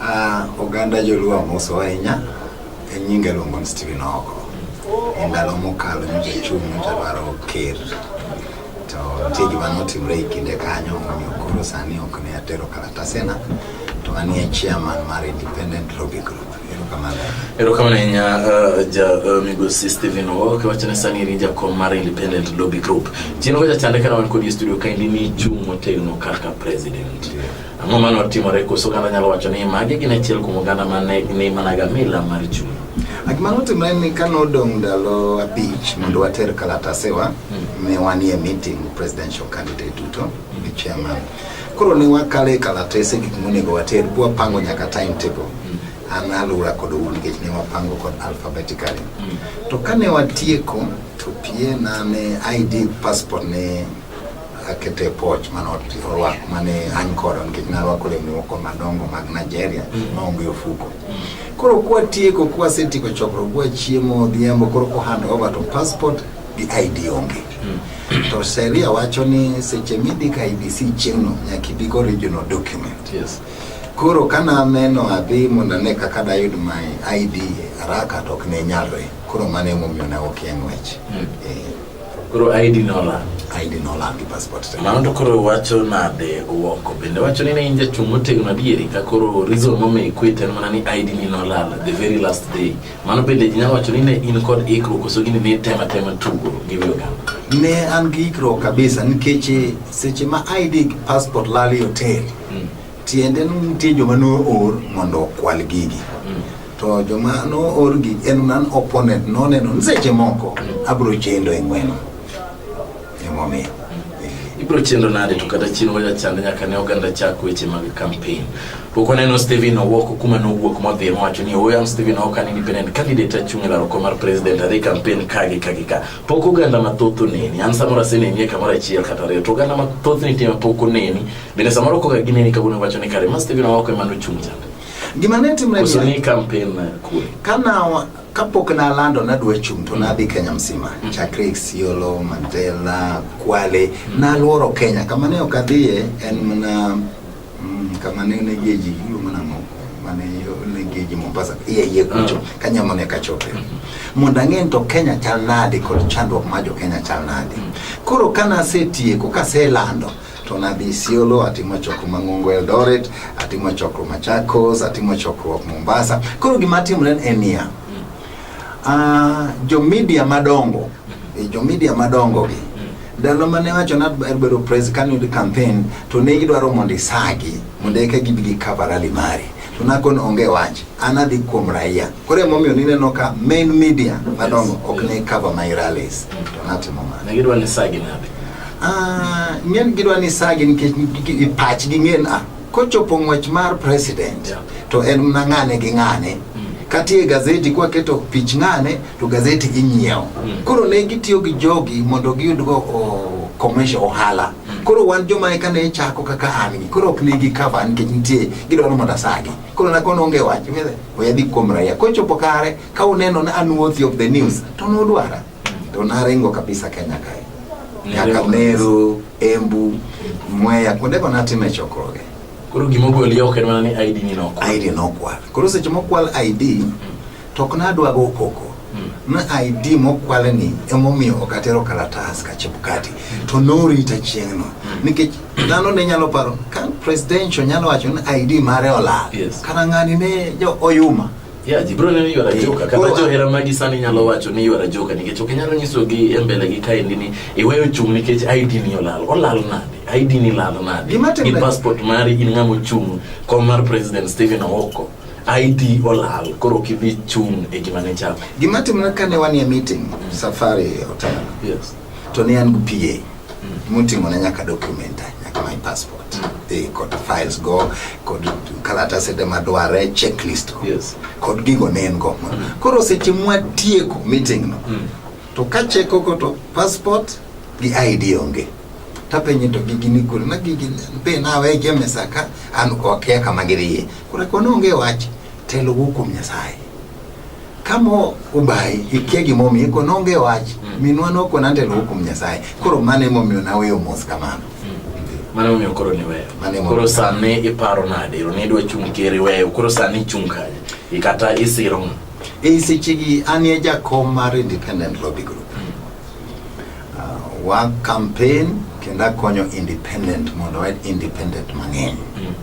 Ah, oganda joluo amoso ahinya en nyinga iluongo ni Stephen Ogo. E ndalo mokalo nyocha achung' nyocha dwaro ker to nitie gima notimre e kinde kanyo omiyo koro sani ok ne atero kalatasena to an e chairman mar Independent Lobby Group. Erokamano. Erokamano ahinya uh, ja uh, migosi Stephen Ogo kiwacho ni sani in jakom mar Independent Lobby Group. Chien wacha chande kana wan kodi e studio kaendi ni chung' motegno kaka president. Yeah. Ang'o ma notimore? Koso oganda nyalo wacho ni magi gin achiel kuom oganda ma ne ni managa mila mar chuny. A Gima notimore ni ka nodong' ndalo abich mondo water kalatasewa ne wanie meeting presidential candidate duto gi chairman. Koro ne wakale kalatese gik monego water bwa pango nyaka timetable. An alura kod un nikech ne wapango kod alphabetically. To kane watieko to pie na ne ID passport ne akete poch mane orwako mane an kodo nikech narwako lewni moko madongo mag Nigeria mm. maonge ofuko koro kwatieko kwasetieko chokruok kwa chiemo odhiambo koro ko hand over to passport gi ID onge mm. to sheria wacho ni seche midika IBC chieng'no nyaka ibi go original document yes. koro ka naneno adhi mondo ane kaka dayud my ID haraka to ok ne nyalre koro mano emomiyo ne ok yang'wech mm. eh. Koro ID nola. ID nola gi passport. Mano to koro wacho nade Owoko bende wacho ni ne in jachung' motegno adieri ka koro reason momiyo ikwit en mana ni ID ni nolal the very last day. Mano bende ji nyalo wacho ni ne in kod ikruok koso gini ne tema tema tugo gi wiyo Ne an gi ikruok kabisa nikech seche ma ID passport lal e hotel. Mm. Tiende ni nitie joma noor mondo okwal gigi. To joma noor gi en nan opponent noneno ni seche moko abiro chendo e ng'weno. Emomiyo. ibiro chendo nade to kata chien waja chande nyaka ne oganda chak weche mag campaign pok waneno Stephen Owoko kuma nowuok modhi mowacho ni oyam Stephen Owoko an independent candidate achung' e laro kom mar president adhi campaign ka gi ka gi ka pok oganda mathoth oneni an samoro aseneni e kamoro achiel kata ariyo to oganda mathoth nitie ma pok oneni Bende samoro kok gine ni kawuono wacho ni kare mas TV no wako emano chung' chande. Gima ne timre Koso ni campaign na kule. Kana kapok na lando na dwe chung' to na dhi Kenya msima. Mm. Chakre Isiolo, Mandela, Kwale, mm. na luoro Kenya. Kama ne ok adhiye en mana mm, kama ne ne geji yulo mana moko. Mane ne geji Mombasa. Iye iye kucho. Mm. Kanya mone kachope. Mm. Mondo ang'e to Kenya chal nade kod chandruok ma jo Kenya chal nade. Mm. Koro kana asetieko, kase lando, To nadhi Isiolo, atimo chokruok mang'ongo Eldoret, atimo chokruok Machakos, atimo chokruok Mombasa. Koro gima atimore en niya, uh, jo media madongo, eh, jo media madongo gi ndalo mane wacho na bedo pres kane yud campaign to ne gidwaro mondo isagi mondo eka gibi gi cover rally mari to nakon onge wach an adhi kuom raia. Koro emomiyo nineno ka main media madongo ok ne cover my rallies. To natimo mano. Ne gidwa ni sagi nade? Ah, ng'en gidwa ni sagi nikech i- i- pachgi ng'en ah, kochopo ng'wech mar president Yeah. to en mna ng'ane gi ng'ane katie gazeti kwaketo pich ng'ane to gazeti inyiewo Mm. koro ne gitiyo gi jogi mondo giyudgo o- commercial ohala koro wan joma eka ne chako kaka an gi koro ok ne gi cover nikech nitie gidwaro mondo asagi Kono na kono onge wach ng'e oya dhi kuom raia kochopo kare ka uneno na an worthy of the news to nudwara to naringo kabisa Kenya kae nyaka Meru, Embu, Mwea kuonde go natime chokruoge. Koro gima ogoli oko en mana ni ID ni nokwal. ID nokwal. Koro seche mokwal ID To ok nadwa go koko ma ID mokwale ni emomiyo ok atero kalatas ka Chebukati to norita chieng'no mm. nikech dhano ne nyalo paro ka presidential nyalo wacho ni ID mare olal yes. kata ng'ani ne jo oyuma Yeah, jibro ne yuara eh, joka kata johera magi sani nyalo wacho ni yuara joka nikech ok inyalo nyiso gi e mbele gi kaendi ni iweyo chung' nikech ID ni olal olal nade ID ni lal nade gi passport mari in ng'ama ochung' kom mar president Stephen Owoko ID olal koro kidhi chung' e gima ne chal. Gima timre kane wanie meeting mm. safari hotel. Yes. To ne an gi PA. Mm. Muting'o ne nyaka document nyaka my passport. Mm. E, kod files go kod kalatase de madware checklist go. Yes. Kod gigo ne en go. Mm. Koro seche mwatieko meeting no. Mm. To ka cheko ko to passport gi ID onge. Mm. tapenye to gigi ni kure na gigi be nawe jemesa ka an okia kama giriye Kuna kwa nonge wach telo wuok kuom Nyasaye. Kama ubayi ikia gimomiyo ko nonge wach mm. minwa noko nantelo wuok kuom Nyasaye. Koro mano emomiyo naweyo mos kamano. Mm. Mano emomiyo koro niweyo. Koro sani iparo nade? Nidwa chung' keri weyo. Koro sani ichung' kanye? Ikata isiro ng'a? E sechegi an e jakom mar Independent Lobby Group. wa campaign kendo akonyo independent mondo wayud independent mang'eny mm.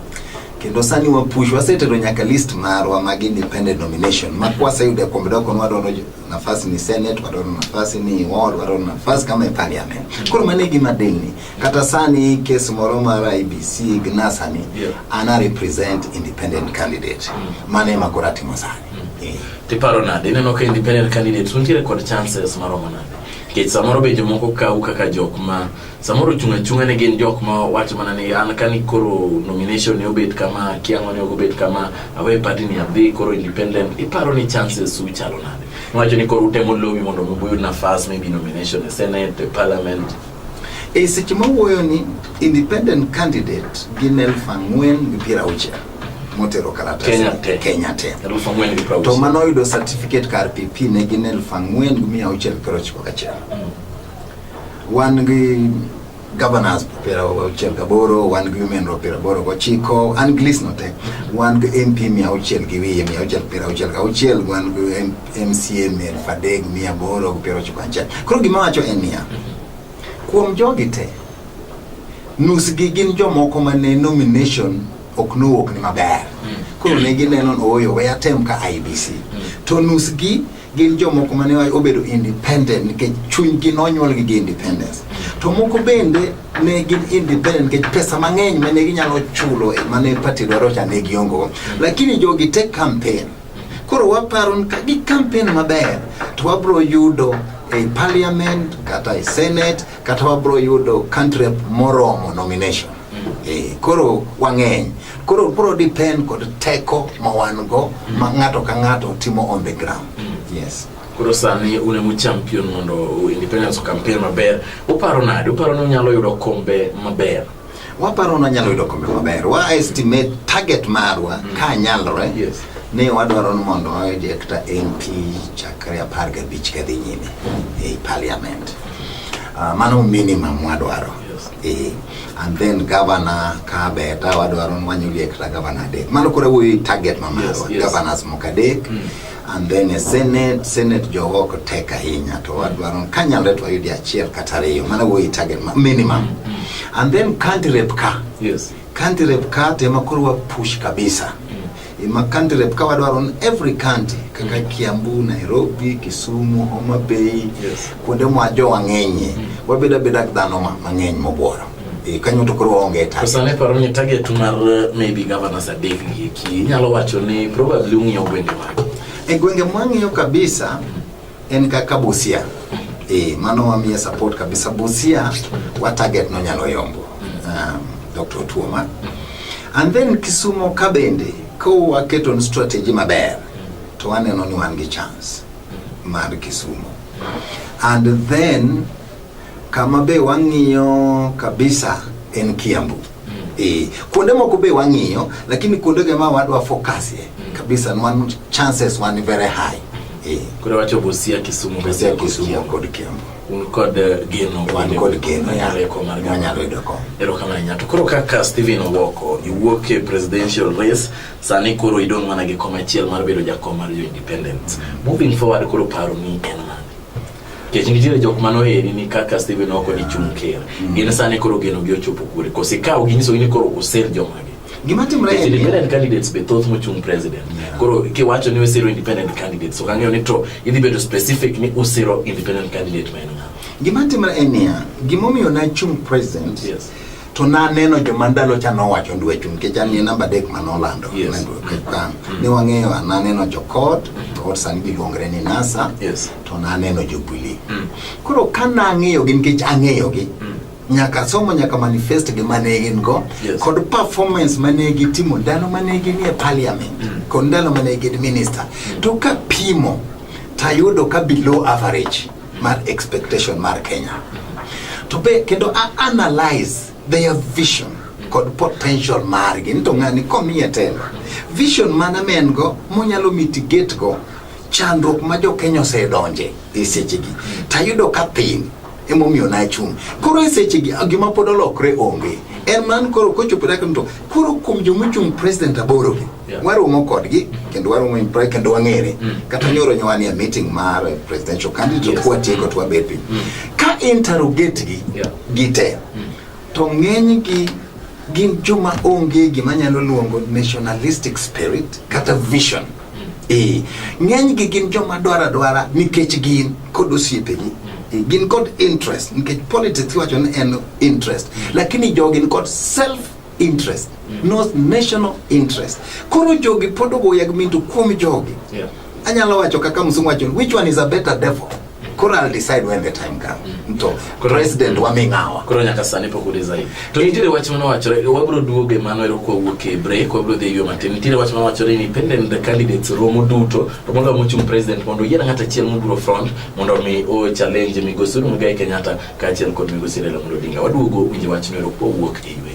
kendo sani wa push wasetero nyaka list marwa mag independent nomination ma kwaseyudo e kombe doko wadwaro nafasi ni senate wadwaro nafasi ni ward wadwaro nafasi kama e parliament koro mane gima delni kata sani kes moro mar IBC gnasani yeah. ana represent independent candidate mm. mane ma koro atimo sani mm. yeah. tiparo nade ineno ka independent candidate untiere kod chances maromo nade nikech samoro be jomoko kawu kaka jok ma samoro chung' achung'a ne gin jok ma wacho mana ni an kani koro nomination ne obet kama kiang'o ne ok obet kama awe party ni adhi koro independent iparo ni chances su chalo nade wacho ni koro utemo lobi mondo mubuyud nafas maybe nomination e senate e parliament e seche mawuoyo ni independent candidate gin elfu ang'wen gi piero auchiel motero kalatas Kenya te. Kenya te elfu ang'wen gi piero to auchiel. mano oyudo certificate kar pp ne gin elfu ang'wen gi mia auchiel piero ochiko gachiel Wan gi governors piero auchiel gaboro wan gi women rep piero aboro gochiko an gi list no te wan gi mp mia auchiel gi wiye mia auchiel piero auchiel gauchiel wan gi M- mca mia elfu adek mia aboro gi piero ochiko achiel koro gima wacho en niya kuom jogi te nusgi gin jomoko ma ne nomination ok nowuok ni maber koro ne gineno ni ooyo we atem ka ibc to nusgi gin jomoko mane obedo independent nikech chunygi nonyuolgi gi independence to moko bende ne gin independent nikech pesa mang'eny mane ginyalo chulo e mane party dwaro cha ne giongo lakini jogi te campaign koro waparo ni ka gi campaign maber to wabro yudo e parliament kata e senate kata wabro yudo country moromo nomination Eh, koro wang'eny koro bro depend kod teko ma wan go ma ng'ato ka ng'ato timo on the ground yes koro sani un emu champion mondo independence campaign maber uparo nade uparo ni unyalo yudo kombe maber waparo ni wanyalo yudo kombe maber wa estimate target marwa ka nyalore Yes. ni wadwaro ni mondo wayud ekta mp chakre apar gabich kadhi nyime ei parliament Ah, mano minimum wadwaro Yes. Eh, and then governor kabe ta wadwaro nwanyo liek ta governor adek mano koro wuoyo target ma marwa yes, governors moko adek mm. and then a senate senate jogo ok tek ahinya to wadwaro ka nyalre to wayudi achiel kata ariyo mano wuoyo target ma minimum mm. and then country rep ka yes. County rep ka tema koro wa push kabisa mm. ma county rep ka wadwaro on every county kaka mm. Kiambu, Nairobi, Kisumu, Homa Bay yes. kuonde mwa jo wang'enye mm. wabeda beda dhano mang'eny mobworo mm. e, kanyo to koro waonge target. Sane paro ni target mar eh, maybe governor Sadek gi ki nyalo wacho ni probably ung'iyo gwenge mage. E gwenge mwang'iyo kabisa mm. En kaka Busia. Eh, mano wamiye support kabisa Busia wa target no nyalo yombo. Um, Dr. Otuoma. And then Kisumo ka bende ka waketo strategy maber to waneno ni wan gi chance mar Kisumo. And then kama be wang'iyo kabisa en Kiambu. Eh, kuonde moko be wang'iyo lakini kuonde ge ma wadwa focus ye mm. kabisa nwan chances wan very high. Eh. Kure wacho Busia, Kisumu, Busia, Kisumu kod Kiambu. Un kod eh, geno wan kod geno ya reko mar gano. Nyalo yudo kom. Ero kama nyato. Koro kaka Steven Owoko iwuok e presidential race sani koro idong mana gi koma achiel mar bedo jakom mar jo independent. Mm. Moving forward koro paro ni en Kech nitiere jok mano eri ni kaka Stephen oko ni chung ker. Mm. Gin sani koro geno gi ochopo kure. Kosi kawo gi nyiso ni koro osel joma gi. Gima timre en independent candidates be thoth mochung president. Koro kiwacho ni osiro independent candidates. So kang'eyo ni to idhi bedo specific ni osiro independent candidate ma en ng'a. Gima timre en niya, gimomiyo na chung president. Yes. to naneno joma ndalo cha nowacho ndwe chung nikech an ni namba adek ma nolando yes. mm. ne wang'eyo naneno jokot mm. kod sani giluongre ni nasa yes. to naneno Jubilee. Mm. Koro ka nang'eyogi nikech ang'eyogi mm. nyaka somo nyaka manifest gi mane gin go yes. kod performance mane gitimo ndalo mane gin e parliament mm. kod ndalo mane gin minister mm. to ka pimo tayudo ka below average mar expectation mar Kenya to be kendo a analyze their vision kod potential margi ni to ng'ani komiye telo vision mana ma en go monyalo mitigate go Chandruok ma jo Kenya osedonje e sechegi to ayudo ka thin emomiyo nachung'. Koro e sechegi gima pod olokre onge en man koro kochopo dakika to koro kuom joma ochung' president aborogi yeah. waromo kodgi kendo waromo impre kendo wang'ere mm. kata nyoro nyawani a meeting mar presidential candidate yes. kwatieko to wabet piny mm. ka interrogate gi yeah. gite mm. to ng'enygi gin joma onge gima nyalo luongo nationalistic spirit kata vision ee ng'enygi gin joma dwaro adwara nikech gin kod osiepegi Ee, gin kod interest nikech politics iwacho ni en interest lakini jogi ni kod self interest not national interest koro jogi pod ogoya gi minto kuom jogi Yeah. anyalo wacho kaka msungu wacho which one is a better devil Kura I'll decide when the time comes. Mm. To president wa mingawa. Kura nyaka sani pok udiza hivi. To nitire wach mano wachore, wabro duoge mano ero kwa wuoke break, wabro dhi yo matin. Nitire wach mano wachore ni pendent the candidates romo duto. To mondo amuchum president mondo yiena ngata chiel mubro front mondo mi o challenge migosi uru mga Kenyatta ka chiel kod migosi Raila Amolo Odinga. Waduogo winje wach no ero kwa wuok e ywe.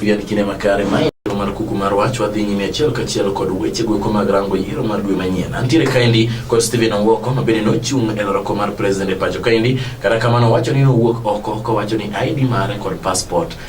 Pia ni kine makare mai mar kuku mar wach wadhi nyime achiel kachiel kod weche gweko mag rango yiero mar dwe manyien antiere kaendi kod Stephen Owoko ma bende nochung' e loroko mar president e pacho kaendi kata kamano owacho ni nowuok oko kowacho ni ID mare kod passport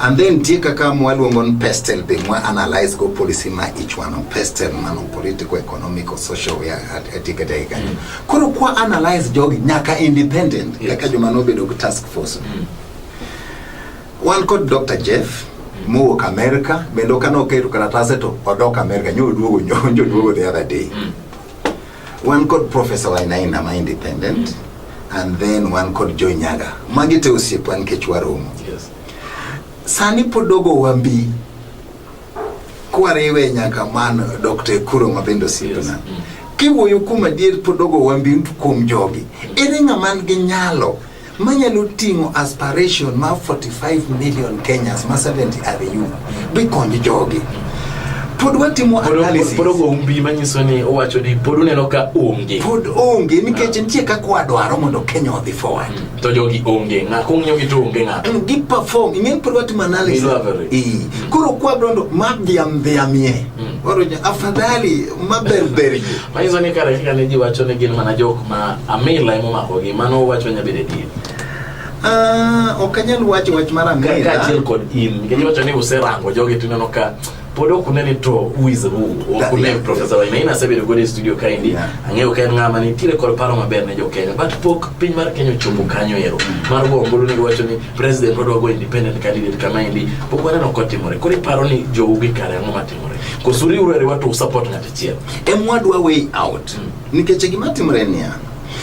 And then nitie kaka mwaluongo ni pestle be mwa analyze go policy ma each one of pestle mano political, economic or social we are at etika dai kanyo. Koro kwa analyze jogi nyaka independent yes. kaka joma nobedo gi task force. Mm. Wan kod Dr. Jeff mm. mowuok America bende kano oketo karatase to odok America nyo oduogo nyo oduogo the other day. Mm. One called Professor Wainaina ma independent mm -hmm. and then one called Joy Nyaga. Magi te osiepa nikech waromo. Yes. Sani podogo wambi kwariwe nyaka man Dr. Ekuro ma bende osiepna. Yes. Mm. Kiwuoyo kuom adier podogo wambi kuom jogi. Ere ng'ama man gi nyalo manyalo ting'o aspiration ma 45 million Kenyans ma 70 are you be konj jogi pod watimo analysis pod ogo umbi manyiso ni owacho ni pod uneno ka onge pod onge nikech ah. nitie kaka wadwaro mondo Kenya odhi forward mm. to jogi onge ng'a kong'iyo gi to onge ng'a mm, gi perform ing'e pod watimo analysis koro kwa brondo mabdhiam dhiamie mm. Moro nya afadhali maber ber ji. Manyiso ni kare kaka ne ji wacho ni gin mana jok ma amila ema omakogi, mano uwacho nya bedo adier. Ah, ok anyal wacho wach mar Ka- amila. Kaachiel kod in, nikech iwacho ni userango jogi to ineno ka pod ok une ni to who is who, ok That- une yeah. Professor Wainaina Ina asebedo godo e studio kaendi, Yeah. ang'eyo ka en ng'ama nitiere kod paro maber ne jo Kenya, but pok piny mar Kenya ochopo kanyo ero, mar go ombulu ni giwacho ni president wadwa go independent candidate kama endi pok waneno kotimore koro iparo ni jou gi kare ang'o matimore koso uriuru e riwa to usupport ng'at achiel emwadwa way out nikech gima timre niya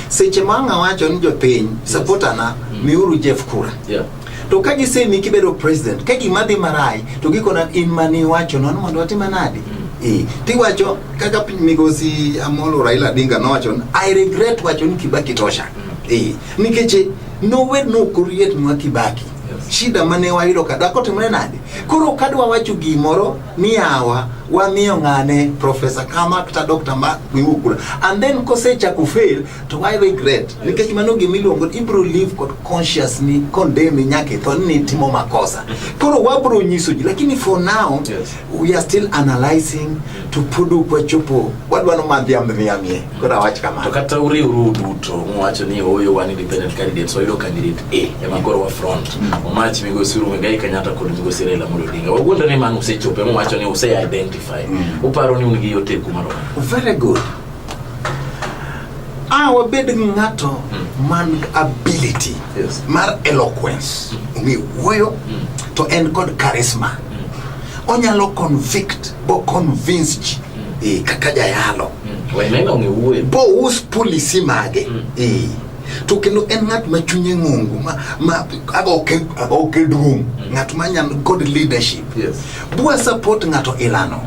seche ma ang' awacho ni jopiny sapotana miuru jeff kura yeah. to ka gisemi kibedo president ka gima dhi marai to gikona in mane iwacho nono mondo watime nadi Eh, tiwacho kaka piny migosi amolo raila odinga nowacho ni, i regret wacho ni kibaki tosha Eh, nikech Nowe nokoriet nwa Kibaki shida mane wayudo ka dhako timre nade koro ka dwa wacho gimoro ni yawa wamiyo ng'ane profesa kama kata dr ma miwu kura and then kosechako fail to why regret nikech mano gima iluongo ibro live kod conscious ni condemn nyaka itho ni timo makosa koro wabro nyiso ji lakini for now yes. we are still analyzing to put up a chupo what one man the ambe miamie kura wach kama to kata uri uru duto mwacho ni oyo one independent candidate so ilo candidate A ya makoro wa front mm. omach mi go suru ngai kanyata kod mi go sirela mulo dinga wagundo ni man usechope mwacho ni use identify mm. uparo ni unigi yote kumaro very good a ah, wabed ng'ato hmm. man ability yes. mar eloquence hmm. ong'e wuoyo hmm. to en kod charisma onyalo convict bo convince ji e, kaka jayalo bous policy mage e, to kendo en ng'at ma chunye ng'ongo ma, ma agoke duong' ng'at ma nyan god leadership yes. bua support ng'ato ilano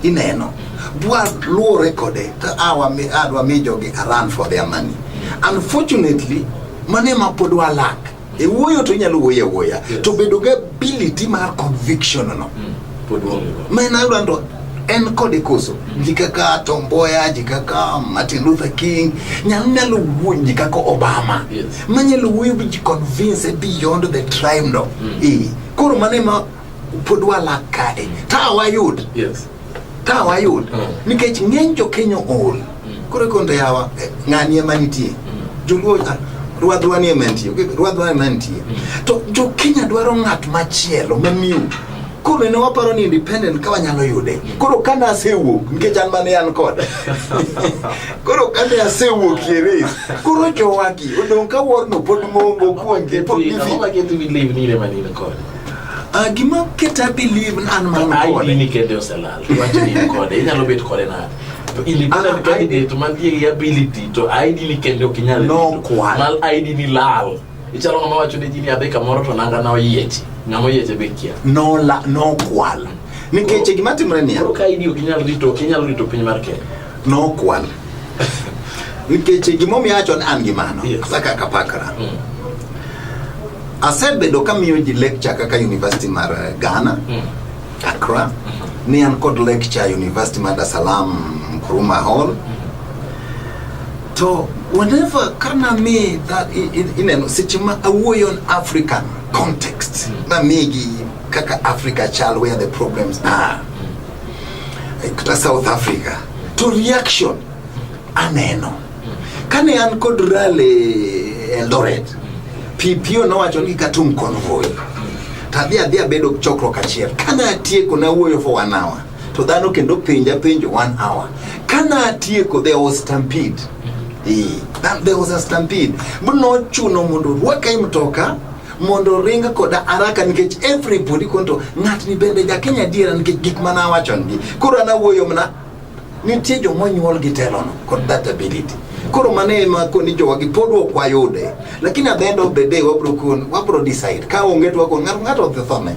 ineno waluwore kode to adwa mi jogi aran for their money unfortunately mane ma pod walak e wuoyo to inyalo wuoyo awuoya to bedo ga ability mar conviction no mm. ma en ayudo ndo en kode koso mm. ji kaka tomboya ji kaka martin luther king nyalo nyalo wuoyo ji kaka obama yes. ma nyalo wuoyo ji convince beyond the tribe no mm. e koro mane ma pod walak kae ta wayud yes. Ka wayud nikech ng'eny jo Kenya ool. Koro ikonto yawa eh, ng'ani ema nitie. Joluo ah, ruadhwa ni ema nitie. okay, Ruadhwa ema nitie. To jo Kenya dwaro ng'at machielo mamiyo koro ne waparo ni independent ka wanyalo yude koro kane asewuok nikech an mane an kod koro kane asewuok e race koro jowagi odong' ka worno pod ng'ongo kuongi pod Ang'o gifi ma keto believe ni in ema ne in kode? Ah, gima kete I believe an man Ai kode. dini kende oselal. Wach ni in kode. Inyalo bet kode nade? To independent Ah, candidate mantie gi ability to ai dini kende ok inyal No rito. kwan. Mal ai dini lal. Ichalo ng'ama wacho ne ji ni adhi kamoro to nanga na oyieche. Ng'ama oyieche be kia. No la no kwal. Nikech gima timre niya, Koro ka ai dini ok inyal rito, ok inyal rito piny mar Kenya. no kwal. Nikech gimomiyo acho ni an gi mano kata kaka pakra mm. asebedo kamiyo ji lecture kaka University mar eh, Ghana mm. Accra mm-hmm. ni an kod lecture University mar Dar es Salaam Nkrumah Hall mm-hmm. to whenever kana mi that ineno seche ma awuoyo on African context mm. namigi kaka Africa chal where the problems are kata South Africa to reaction aneno kane an kod rally Eldoret pipio nowacho ni katum convoy to adhi adhi abedo chokruok achiel kane atieko nawuoyo for one hour to dhano kendo penja penjo one hour kane atieko there was stampede Eh, that- there was a stampede but nochuno mondo orwaka e mtoka mondo oring koda araka nikech everybody konto ng'atni bende jakenya adiera nikech gik mana awachongi koro an awuoyo mna nitie joma onyuol gi telono kod that ability koro mano ema koni jowagi pod ok wayude lakini at the end of the day wabro kon wabro decide ka onge to wakon ng'ato ng'ato odhi thone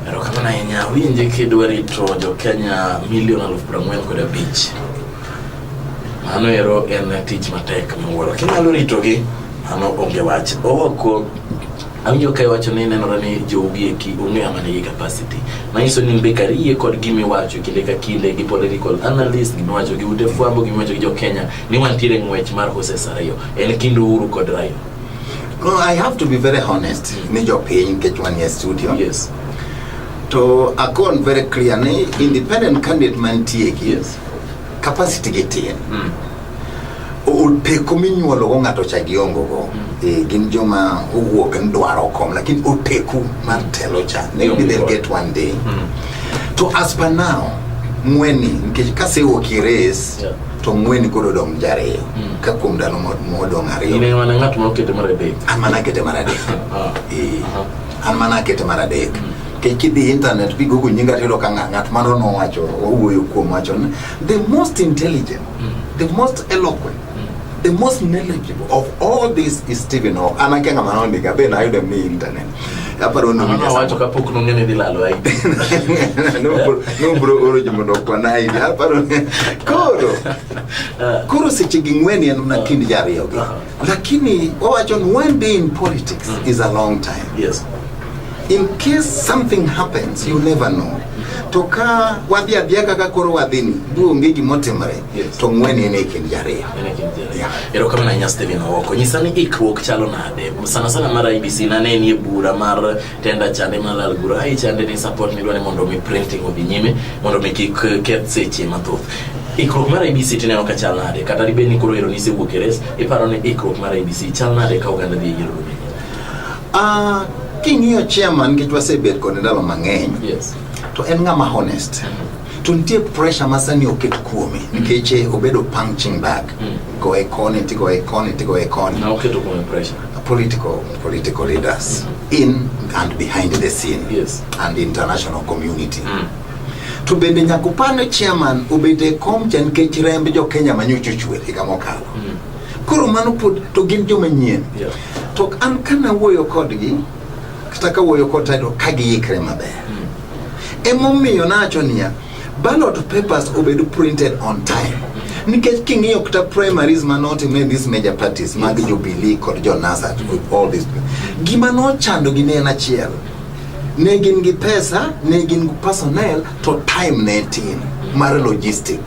Erokamano ahinya, awinje kidwa rito jo Kenya milion aluf prang'wen kod abich. Mano ero en tich matek miwuoro. Kinyalo ritogi, mano onge wach. Owoko awinjo ka iwacho ni nenore ni jogi eki ong'e ama nigi capacity manyiso ni mbe kar yie kod gima iwacho kinde ka kinde gi political analyst gima iwacho gi ute fwambo gima iwacho gi jo Kenya ni wantiere e ng'wech mar horses ariyo en kind Uhuru kod Raila No, I have to be very honest ni jopiny nikech wanie studio yes to akon very clear ni independent candidate mantie ki Yes. capacity gi tin mm. oteko minyuolo go ng'ato cha giongo go mm. e, gin joma owuok ni dwaro kom lakini oteku mar telo cha maybe they'll get one day mm. to as per now ng'weni nikech kasewuok i race yeah. to ng'weni koro odong' jariyo mm. ka kuom ndalo modong' ariyoamana ng'at ma okete mar adek an mana akete mar adek ah. e, an mana akete mar adek mm. kech kidhi internet bi gogo nyinga tiyudo ka ng'a- ng'at mano nowacho owuoyo kuom wacho ni the most intelligent the most eloquent the most knowledgeable of all this is Stephen Hawking an akia ng'ama nondika be nayude mi internet aparo ni Mama wacho kapok nong'e ni dhi lalo aidi. nobro oro jomondo okwana hivi aparo ni koro koro seche gi ng'weni en mana kind jariyogi Aha. Lakini wawacho ni one day in politics mm. is a long time. Yes. In case something happens, you never know. To ka wadhi adhiya kaka koro wadhini, buonge gima otimore, yes. to ng'wen en e kind jariyo. Erokamano ahinya Stephen Owoko. Nyisa ni ikruok chalo nade? Sana sana mar IBC nane nie bura mar tenda chande malal gura ai chande ni support midwa ni mondo mi printing odhi nyime mondo mi kik eh, keth seche mathoth ikruok mar abc tineno ka chal nade kata dibed ni koro ero nisewuok e res iparo ni ikruok mar abc chal nade ka oganda dhi e yiero dume Ah, king'iyo chairman nikech wasebet kode ndalo mang'eny yes to en ng'ama honest to nitie pressure ma sani oket kuome mm. nikech eh, obedo punching bag mm. goe koni tigoe koni tigoe koni political political leaders mm. in and behind the scene yes. and international community mm. to bende nyaka upane chairman obet e kom cha nikech remb jo Kenya ma nyocha ochwer higa mokalo mm. koro mano pod to gin joma nyien yeah. to an kana wuoyo kodgi kata ka wuoyo kod title ka giikre maber emomiyo nacho niya ballot papers obed printed on time nikech king'iyo kata primaries ma notime these major parties mag jubilee kod jo nasat with all this gima nochando gi ne en achiel ne gin gi pesa ne gin gi personnel to time ne tin mar logistic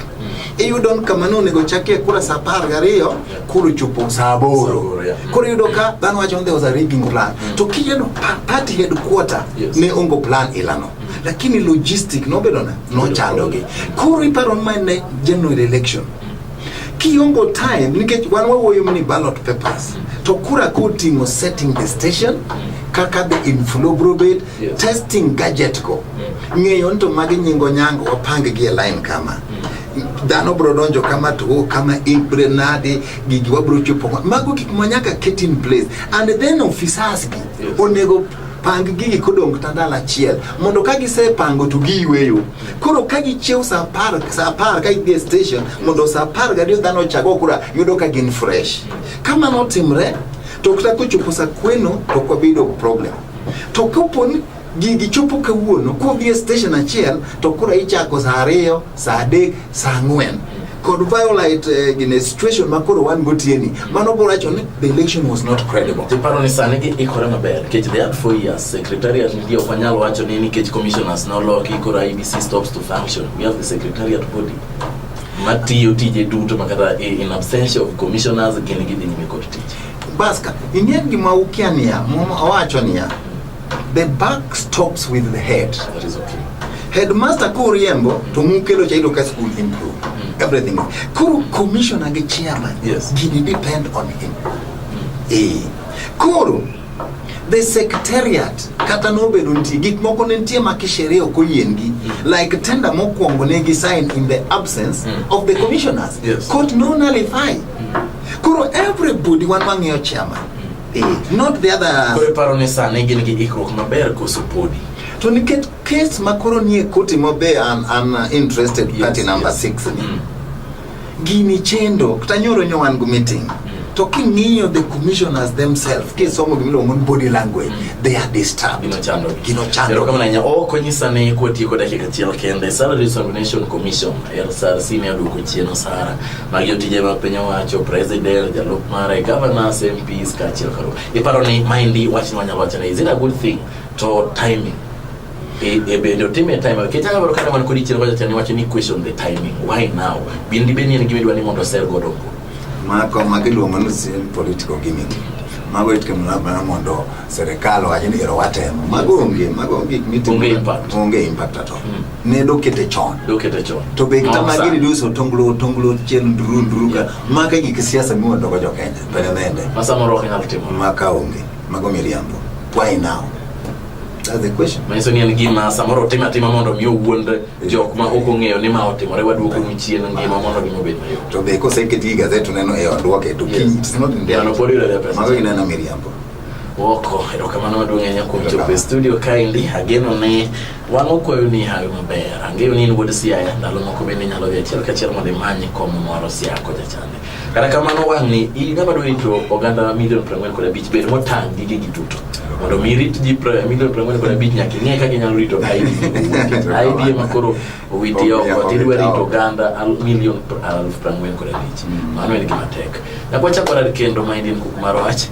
iyudo ni kama ne onego chakie kura sa apar gariyo koro chopo saa aboro koro yudo ka dhano wacho ni there was a rigging plan mm. to kijeno party headquarter yes. ne ongo plan ilano mm. lakini logistic nobedo na nochandogi koro iparo ni mane general election kiongo time nikech wan wawuoyo ni ballot papers mm. to kura koting'o setting the station kaka the inflow bro bed yes. testing gadget go ng'eyo ni to magi nyingo nyango wapang gi e line kama dhano bro donjo kama to oh, kama ibre nade gigi wabro chopo mago gik ma nyaka ket in place and then officers gi yes. onego pang gigi kodong tandal achiel mondo ka gisepango to giyweyo koro ka gichiew sa apar sa apar ka gidhi e station mondo sa apar gariyo dhano ochago kura yudo ka gin fresh kamano otimre to kata kochopo sa kweno to ok wabedo problem to kapo ni Gigi chopo kawuono kodhi e station achiel to kura ichako saa ariyo, saa adek, saa ang'wen kod violate uh, eh, in a situation ma koro wan gotieni mano bro wacho ni the election was not credible tiparo ni sani gi ikore maber nikech they had four years secretariat ndio ok wanyal wacho ni nikech commissioners noloki koro IBC stops to function we have the secretariat body matiyo tije duto makata in absence of commissioners gin gidhi nyime kod tich baska ing'e gima ukia niya muma owacho niya The buck stops with the head. That is okay. Headmaster Kuriembo to mukelo cha idoka school improve mm. everything. Kuru commissioner ge chairman. Yes. Gini depend on him. Mm. Eh. Kuru the secretariat kata nobedo nitie gik moko ne nitie ma kisheria ok oyiengi mm. like tender mokwongo ne gi sign in the absence mm. of the commissioners yes. court no nullify mm. koro everybody wan wang'iyo chairman age, not the other. Koro iparo ni sani gin gi ikruok maber koso podi? To nikech kes ma koro nie koti ma be an, an uh, interested yes, party number yes. six ni. Mm. Gini chendo, kata nyoro nyo wan gu meeting. Mm. To king'iyo the commissioners themselves, kisomo gimiluongo ni body language, mm. they are disturbed. Gino chando. Gino chando. Yaro kama nanya, oh konyisa ni kwa tiko dakika chiel kende, Salary Examination Commission, LSRC ne aduko chieno sara. Magi otije mag piny owacho, president, jalup mare, governors, MPs kaachiel kod iparo ni maendi wachni wanyalo wacho ni is it a good thing to timing e, e bende otime time nikech anyalo dwaro kata man kod ichiel wacho ni wacho ni question the timing why now bende bende en gima idwa ni mondo osel godo go mako mako iluongo ni sin political gimmick mago itimo labda mondo serikal owacho ni ero watemo mago onge mago onge gik mitimo Onge impact. onge impact at all ne dokete chon dokete chon to be kama Moksa. gini duso tonglo tonglo chen nduru nduru ka maka gik siasa miwa dogo jo Kenya pene nende ma samoro ok nyal timo maka onge mago miriambo why now that's the question manyiso ni en gima samoro otim atima mondo mi owuond jok ma ok ong'eyo ni ma otimore waduoko nu chien ngima mondo gima obed mayot to be koseket gi gazet uneno e odwoke to Yes. kiny it's not in Yano pod yudo the pesa. mago ineno miriambo Woko, erokamano maduong' ahinya kuom chopo e studio kaendi. Ageno ni Wan wakwayo ni hawi maber. Ang'eyo ni in wuod Siaya, ndalo moko bende inyalo dhi achiel kachiel mondo imany kom moro Siaya kocha chande. Kata kamano wang' ni in ng'ama dwa rito oganda milion piero ang'wen kod abich bed motang' gi gigi duto. Mondo mi irit ji pra- milion piero ang'wen kod abich nyaka ing'e kaka inyalo rito ID. ID ema koro owiti oko tidwa rito oganda al- milion pr- aluf piero ang'wen kod abich. Mano en gima tek. Nyaka wachak warad kendo ma in kuk mar wach.